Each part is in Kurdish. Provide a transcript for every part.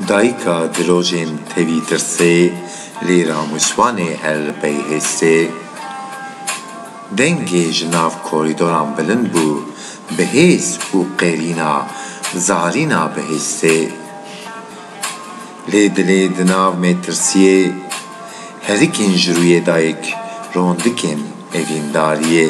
Dayika dirojên tevî tirsê lê ramişvanê her li pey hêstê. Dengê ji nav korîdoran bilind bû bi hêz û qêrîna zarîna bi hêstê. Lê dilê di nav mêtirsiyê herikên ji rûyê dayik rondikên evîndariyê.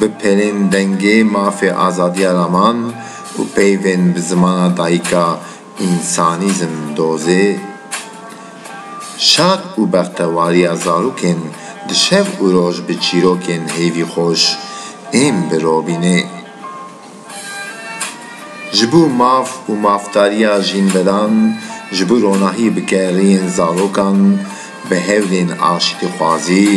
Bipelên dengê mafê azadiya raman û peyvên bi zimana dayika însanîzm dozê, şad û bextewariya zarokên di şev û roj bi çîrokên hêvî xweş ên bi robînê. Ji bo maf û mafdariya jînvedan, ji bo ronahî bi geriyên zarokan, bi hewlên aştîxwazî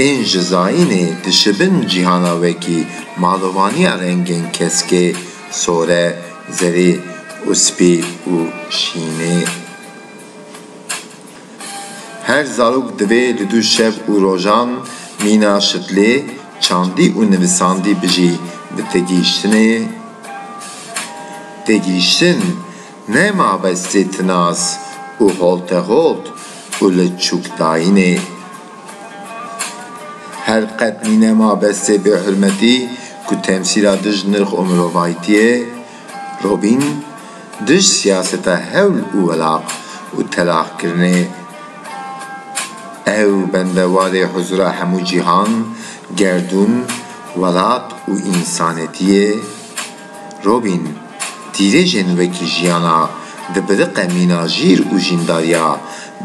ên ji zayînê dişibin cîhana wekî malovaniya rengên keskê, sore, zerî û spî û şînê. Her zarok divê di du şev û rojan mîna şitlê çandî û nivisandî bijî bi têgihiştinê. Têgihiştin ne mabestê tinas û holteholt û li çûkdayînê. Her qet nîne mabestê bêhurmetî ku temsîla dij nirx û mirovayîtiyê, Robîn, dij siyaseta hewl û welaq û telaxkirinê ye. Ew bendewarê huzûra hemû cîhan, gerdûn, welat û însanetî ye. Robîn, dîrêjên wekî jiyana dibiriqe mîna jîr û jîndariya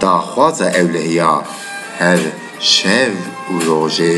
daxwaza ewlehiya her şev û rojê.